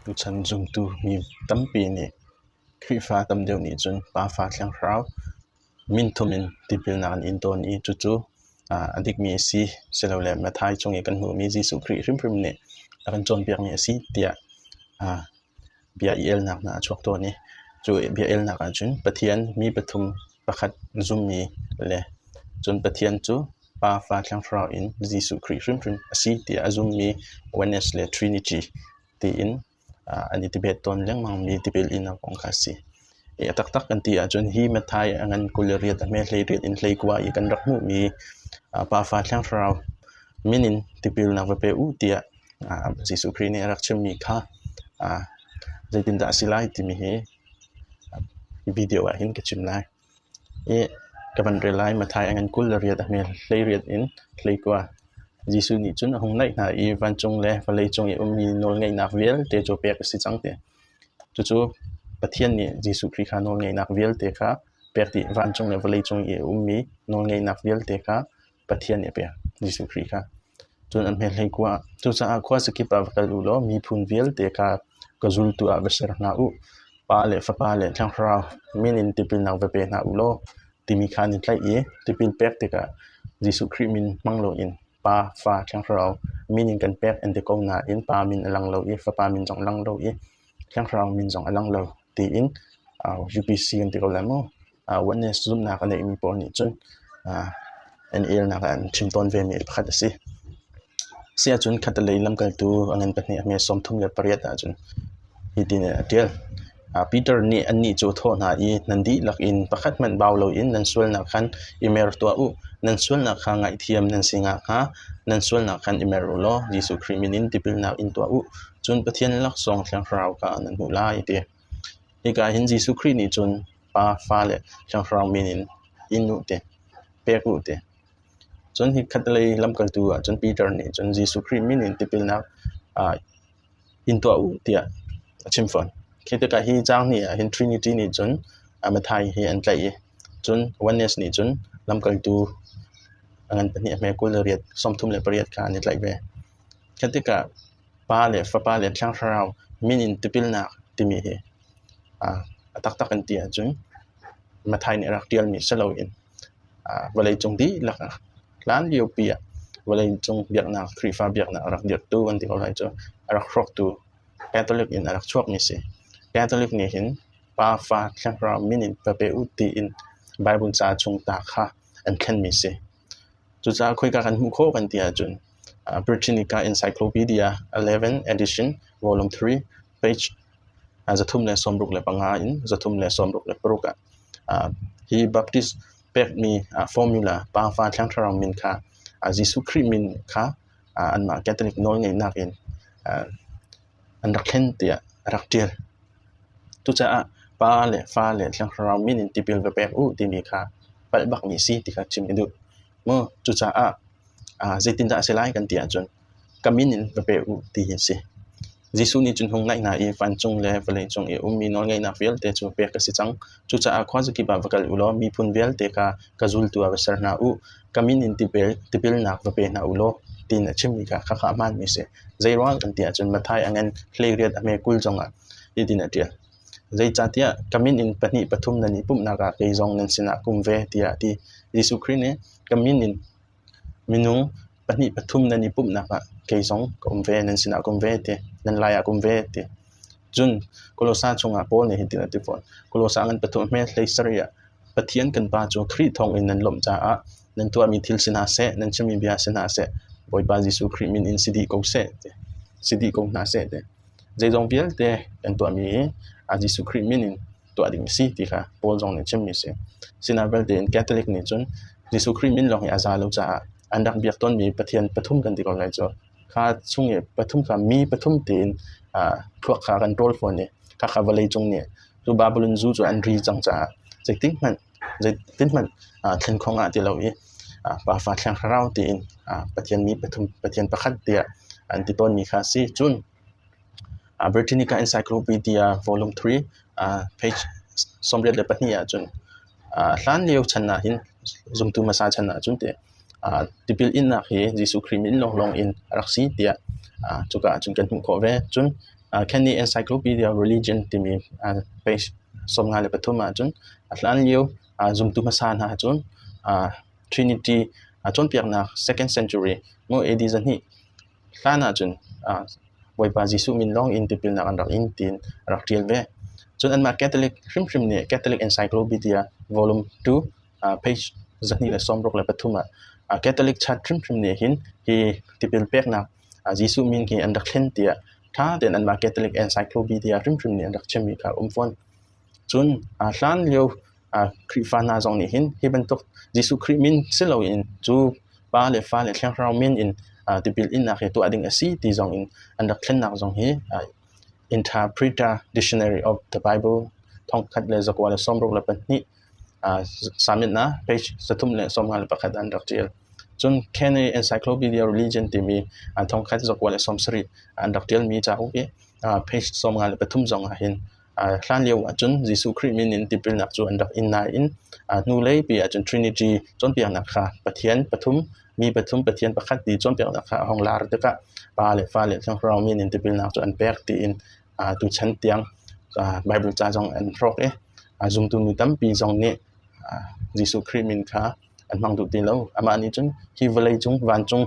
Tuchan zumtu mi tampi nih Khrihfa tam deuh nih cun Pafa Thiangthlarau minthum in tipilnak an in tawn i cucu a dikmi a si silole Matthai chung i kan hmuhmi Jesuh Khrih hrimhrim nih a kan cawnpiakmi a si tiah bia i elnak hna a chuak tawn i cu bia elnak ahcun Pathian mi pathum pakhat zummi le cun Pathian cu Pa, Fa, Thiang Thlarau in Jesuh Khrih hrimhrim a si tiah a zummi oneness le trinity tiin an i debate tawn lengmangmi tipil inak kong kha a si. A taktak kan ti ahcun hi Matthai a ngan kul le riat, a hme hleiriat in hleikua i kan rak hmuhmi Pafa Thiang Thlarau min in tipilnak va pe uh tiah Jesuh Khrih nih a rak chimmi kha zeitindah a si lai timi hi video ah hin ka chim lai. I ka van rel lai Matthai a ngan kul le riat, a hme hleiriat in hleikua Jesuh nih cun a hung naih hna i vancung le vawleicung i ummi nawlngeihnak vialte cu pek a si cang tiah Cucu Pathian nih Jesuh Khrih kha nawlngeihnak vialte kha pek dih. Vancung le vawleicung i a ummi nawlngeihnak vialte kha Pathian nih a pek, Jesuh Khrih kha. Cun an hmeh hlei-kua ah, cucaah khua sakip ah va kal u law miphun vialte ka ka zultu ah va ser hna u. Pa le Fapa le Thiang Thlarau min in tipilnak va pe hna u law timi kha an i tlaih i tipil pek tikah Jesuh Khrih min hmang loin Pa, fa, Thiangthlarau min in kan pek an ti ko nain pa min a lang lo i fapa min zong a lang lo i Thiangthlarau min zong a lang lo tiin uh, UPC kan ti ko lai maw. Uh, oneness zumhnak a neimi pawl nih cun uh, an elnak an thin tawn vemi pakhat a si. Si ahcun khat lei lamkaltu a ngan pahnih a hme sawm thum le pariat ahcun Hitin a ṭial: Peter nih annih cu a thawh hna i, “Nan dihlak in pakhat hmanh bau loin nan sualnak khan i mer tuah u. Nan sualnak kha ngaihthiam nan si nakhnga nan sualnak khan i mer u law Jesuh Khrih min in tipilnak in tuah u. Cun Pathian laksawng Thiangthlarau kha nan hmuh lai,” a ti. Hika ah hin Jesuh Khrih nih cun Pa, Fa le Thiangthlarau min in in u ti, pek u ti. Cun hi khatlei lamkaltu ah cun Peter nih cun Jesuh Khrih min in tipilnak in tuah u tiah a chim fawn. Khi tikah hi caang hnih ahhin Trinity nih cun Mathai hi an tlaih i cun oneness nih cun lamkaltu a ngan pahnih a hme kul le riat sawmthum le pariat kha an i tlaih ve. Khi tikah Pa le Fapa le Thiang Thlarau min in tipilnak timi hi aa a taktak an ti ahcun Mathai nih a rak ṭialmi si loin aa vawleicung dihlak ah Hlanlio pi ah vawleicung biaknak Khrihfa biaknak a rak dirhtu an ti ko lai cu a rak hrawktu Catholic in a rak chuakmi a si. Catholic nih hin Pafa Thlaihra min in va pe u tiin Baibal ca chung ta kha an thlenmi a si. Cucaah khoika kan hmuh khawh kan ti ahcun uh, Britannica Encyclopedia 11 edition volume 3 page uh, zathum le sawmruk le panga in zathum le sawmruk le paruk ah uh, hi Baptist pekmi formula Pa, Va, Thiang Thlarau min kha Jesuh Khrih min kha anmah Catholic nawlngeihnak in an rak thlen tiah a rak ṭial. Cucaah Pa le Fa le Thiang Thlarau min in tipil va pek u timi kha palh bak mi si ti kha chim i duh. Maw cucaah zeitindah a si lai kan ti ahcun ka min in va peh u ti hi a si. Jesuh nih cun hung ngaih hna i vancung le vawleicung i ummi nawlngeihnak vialte cu pek ka si cang. Cucaah khua zakip ah va kal u law miphun vialte kha ka zultu ah va ser hna u. Ka min in tipil tipilnak va pe hna u law tiin a chimmi kha khakha hmaanmi a si. Zeiruang kan ti ahcun Matthai angin hleiriat a hme kul zongah hitin a ṭial. Zeicahtiah ka min in pahnih pathum nan i pumhnak ah kei zong nan sinah kum ve tiah a ti. Jesuh Khrih nih ka min in Minung pahnih pathum nan i pumhnak ah kei zong ka um ve, nan sinah ka um ve ti, nan laiah ka um ve ti. Cun Kolose chungah Paul nih hitin a ti fawn, Kolose ngan pathum a hme hlei sarih ah Pathian kan Pa cu Khrih thawngin nan lawmh caah nan tuahmi thil si hna seh, nan chimmi bia si hna seh, Bawipa Jesuh Khrih min in si dih ko seh ti, si dih ko hna seh ti. Zeizong vialte kan tuahmi hi a Jesuh Khrih min in tuah ding a si ti kha Paul zong nih a chimmi a si. Sinah vialte in Catholic nih cun Jesuh Khrih min lawng hi a za lo caah an rak biak tawnmi Pathian pathum kan ti ko lai cu. Kha chung i pathum kha mi pathum tein uh, thluak kha kan rawl fawn i khakha vawlei cung nih cu Babylon zu cu an ri cang caah zeitin hmanh zeitin hmanh uh, thlen khong ah ti lo i uh, Pafa Thiang Thlarau tiin uh, Pathian mi pathum Pathian pakhat tiah an ti tawnmi kha a si. Cun Britannica Encyclopedia Volume Three page sawmriat le pahnih ahcun hlanlio chan ahhin zumtu hmasa chan ahcun teh tipil innak hi Jesuh Khrih min lawnglawng in a rak si tiah cuka ahcun kan hmuh khawh ve. Cun Canny Encyclopedia Religion timi page sawmnga le pathum ahcun hlanlio zumtu hmasa hna cun Trinity cawnpiaknak second century maw AD zahnih hlan ahcun Bawipa Jesuh min lawngin tipilnak an rak in tiin a rak ṭial ve. Cun anmah Catholic hrimhrim nih Catholic Encyclopedia Volume 2 page zahnih le sawmruk le pathum ah Catholic Church hrimhrim nih hin hi tipil peknak Jesuh min hi an rak thlen tiah ṭha tein anmah Catholic Encyclopedia hrimhrim nih an rak chimmi kha a um fawn. Cun aa hlan lio Khrihfa hna zong nih hin hi bantuk Jesuh Khrih min si loin cu pa le fa le thiangthlarau min in tipil innak hi tuah ding a si ti zong in an rak thlennak zong hi Interpreter Dictionary of the Bible thongkhat le zakua le sawmruk le pahnih submit-nak page zathum le sawmnga le pakhat an rak ṭial. Cun Caney Encyclopedia Religion timi thongkhat zakua le sawmsarih an rak ṭialmi cauk i page sawmnga le pathum zong ah hin Hlanlio ahcun Jesuh Khrih min in tipilnak cu an rak in nain hnuleipi ahcun Trinity cawnpiaknak kha Pathian pathum, mi pathum Pathian pakhat ti cawnpiaknak kha a hung lar tikah Pa le Fa le Thiangthlarau min in tipilnak cu an pek tiin tuchan tiang Baibal ca zong an hrawk i zumtu nu tampi zong nih Jesuh Khrih min kha an hmang tuk ti lo. Amah nih cun hi vawlei cung, vancung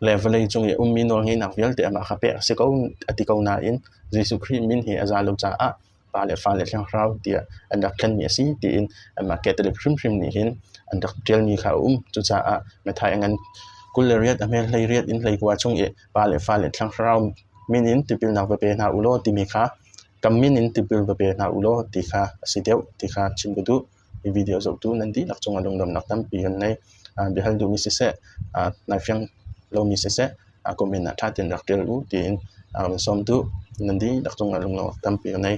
le vawlei cung i a ummi nawlngeihnak vialte amah kha pek a si ko a ti ko nain Jesuh Khrih min hi a za lo caah pa le fa le thiangthlarau tiah an rak thlenmi a si tiin anmah Catholic hrimhrim nih hin an rak ṭialmi kha a um. Cucaah Matthai a ngan kul le riat a hmel hlei riat in hlei kua chung i pa le fa le thiangthlarau min in tipilnak va pe hna u law timi kha kam min in tipil va pe hna u law ti kha a si deuh ti kha chim ka duh. hi video zohtu nan dihlak cungah lungdonnak tampi kan ngei. Bia hal duhmi siseh, nai fiang lomi siseh, comment ah ṭha tein rak ṭial u tiin kan sawm duh. Nan dihlak cungah lungdonnak tampi kan ngei.